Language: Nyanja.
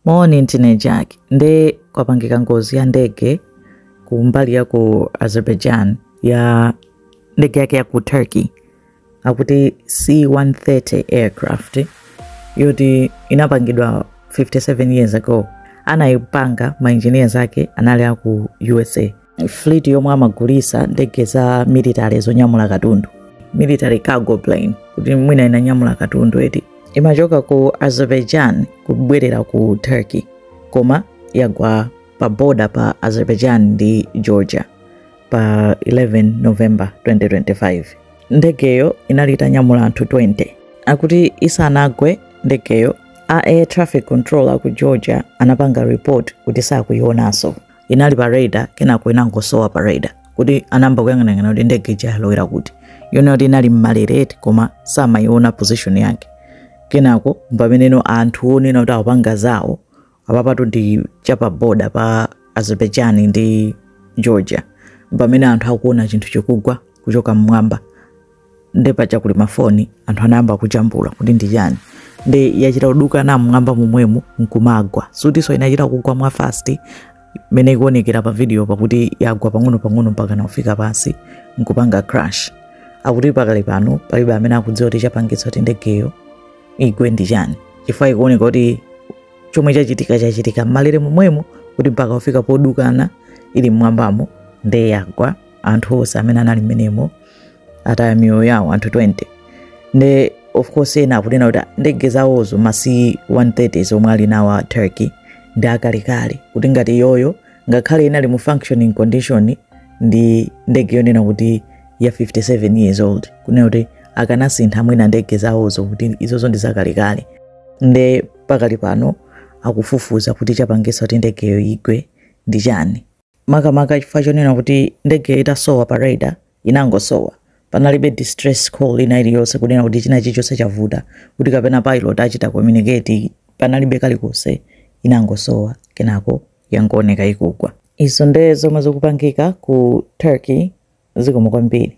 Morning Tine Jack. Nde kwapangika ngozi ya ndege ku mbali ya ku Azerbaijan ya ndege yake ya ku Turkey akuti C130 aircraft yoti inapangidwa 57 years ago. Anayipanga ma engineers ake anali aku USA fleet yomwe amagulitsa ndege za military zonyamula katundu military cargo plane kuti mwina inanyamula katundu eti imachoka ku azerbaijan kubwerera ku turkey koma yagwa pa boda pa azerbaijan ndi georgia pa 11 november 2025 ndegeyo inali itanyamula anthu 20 akuti isanagwe ndegeyo a air traffic control aku georgia anapanga report kuti sakuyionanso inali pa radar kenako inangosowa pa radar kuti anayamba kuyang'anayang'ana kuti ndege ija yalowera kuti yona kuti inali mmalere eti koma samayiona position yake kenako pameneno anthu onena kuti akupanga zawo apapatu ndi chapa boda pa azerbaijan ndi georgia pamene anthu akuona chinthu chikugwa kuchoka mmwamba nde paja kuli mafoni anthu anayamba kujambula kuti ndi chani nde yachita kudukana mmwamba momwemo nkumagwa sikutinso inachita kugwa mwa fast mene ikuonekera pa video pakuti yagwa pang'ono pang'ono mpaka nakufika pansi nkupanga crash akuti pakali pano palibe amene akudziwa kuti chapangitsa kuti ndegeyo igwe ndi chani chifukwa ikuoneka kuti chomwe chachitika chachitika mmalere momwemo kuti mpaka kufika podukana ili mmwambamo nde yagwa anthu onse amene anali mmenemo ataya miyoyo yawo anthu 20 nde of course ena akunena kuti ndege zawozo ma C130 zomwe ali nawo a turkey ndi akalekale kuti ngati iyoyo ngakhale inali mu functioning condition ndi ndege yonena kuti ya 57 years old kunena kuti akanasintha mwina ndege zawozo kuti izozo ndi zakalekale nde pakali pano akufufuza kuti chapangitsa kuti ndegeyo igwe ndi chani makamaka chifukwa chonena kuti ndegeyo itasowa pa radar inangosowa panalibe distress call ina iliyonse kunena kuti china chilichonse chavuta kuti kapena pilot achita communicate panalibe kalikonse inangosowa kenako yangooneka ikugwa izo nde zomwe zikupangika ku turkey zikomo kwambiri